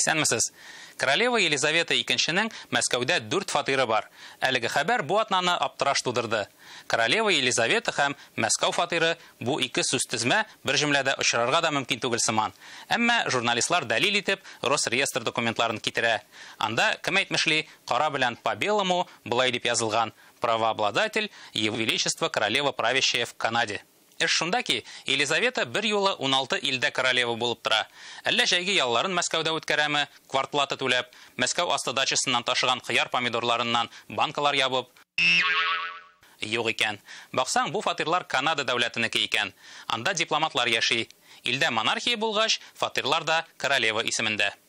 Исәнмесез! Королева Елизавета икенченең Мәскәүдә дүрт фатиры бар. Әлеге хәбәр бу атнаны аптыраш тудырды. Королева Елизавета һәм Мәскәү фатиры, бу ике сүзтезмә бер җөмләдә очрарга да мөмкин түгел сыман. Әмма журналистлар дәлил итеп Росреестр документларын китерә. Анда, кем әйтмешли, кара белән по белому, болай дип язылган, Правообладатель, Его Величество Королева Правящая в Канаде. Эш шунда ки, Елизавета берьюлы уналты илдә королева булып тора. Әллә җәйге ялларын Мәскәүдә үткәрәме, квартплата түләп, Мәскәү асты дачасыннан ташыган кыяр-помидорларыннан банкалар ябып? Юк икән. Баксаң, бу фатирлар Канада дәүләтенеке икән. Анда дипломатлар яши. Илдә монархия булгач, фатирлар да королева исемендә.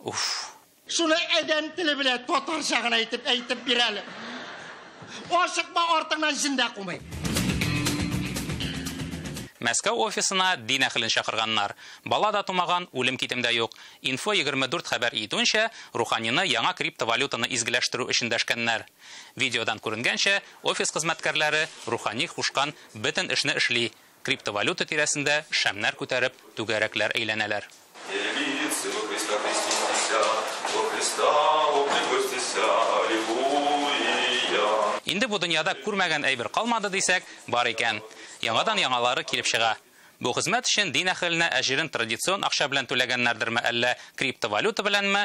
Уф. Шуны әдәм теле белә татарча гына әйтеп әйтеп бир әле. Ашыкма артыңнан җендә кумый. Мәскәү офисына дин әхелен чакырганнар. Бала да тумаган, үлем китем дә юк. Инфо 24 хәбәр итүенчә, Руханины яңа криптовалютаны изгеләштерү өчен дәшкәннәр. Видеодан күренгәнчә, офис хезмәткәрләре Рухани кушкан бөтен эшне эшли, Криптовалюта тирәсендә шәмнәр күтәреп, түгәрәкләр әйләнәләр. Инде бу дөньяда күрмәгән әйбер калмады дисәк, бар икән. Яңадан яңалары килеп чыга. Бу хезмәт өчен дин әһеленә әҗерен традицион акча белән түләгәннәрдерме, әллә криптовалюта беләнме,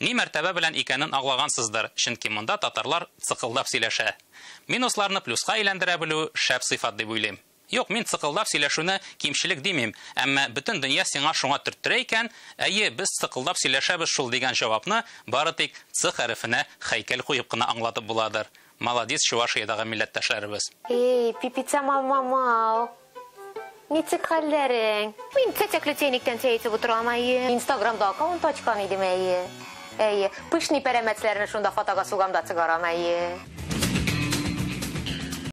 Ни мәртәбә белән икәнен аңлагансыздыр, чөнки монда татарлар цыкылдап сөйләшә. Минусларны плюска әйләндерә белү, шәп сыйфат дип уйлыйм. Юк, мин цыкылдап сөйләшүне кимчелек димим, әмма бөтен дөнья сиңа шуңа төрттерә икән, әйе, без цыкылдап сөйләшәбез шул дигән җавапны бары тик Ц хәрефенә хәйкәл куеп кына аңлатып буладыр. Маладис Чувашиядагы милләттәшләребез. Эй, пипица мамамау. Ничек хәлләрең? Мин чәчәкле чәйнектән чәй эчеп утырам, әйе. Инстаграмда аккаунт ачкан идем, әйе. Әйе. Пышный пәрәмәчләрне шунда фотога сугам да чыгарам, әйе.